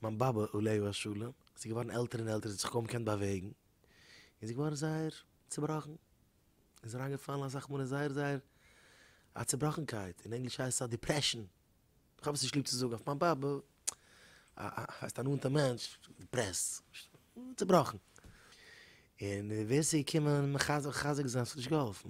מיין באבע עליה השלום איז געווארן עלטער און עלטער זי האט זיך קוים געקענט באוועגן און זי איז געווארן זייער צובראכן און איז אריין געפאלן אסאך מאל אין זייער זייער א צובראכנקייט אין ענגליש הייסט עס א דיפרעשאן איך האב עס נישט ליב צו זאגן אויף מיין באבע הייסט א נאנטע מענטש דיפרעסט צובראכן און ווער ס'איז געקומען מחזק זיין ס'האט נישט געהאלפן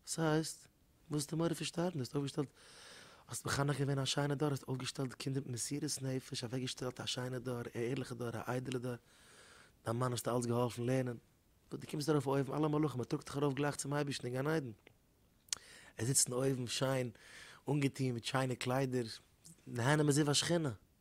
וואס הייסט? וואס איז די מורא פון שטארבן? דו האסט אויפגעשטעלט, האסט מחנך געווען א שיינע דור, האסט אויפגעשטעלט די קינדער מיט מסירות נפש, אוועקגעשטעלט א שיינע דור, א ערליכע דור, א איידעלע דור, דיין מאן האסטו אלץ געהאלפן לערנען, וואס דו קומסט ארויף אויבן, אלע מלאכים, מען טראגט דיך ארויף גלייך צום אייבערשטן אין גן עדן, ער זיצט אין אויבן שיין אנגעטון מיט שיינע קליידער, נהנה מזיו השכינה.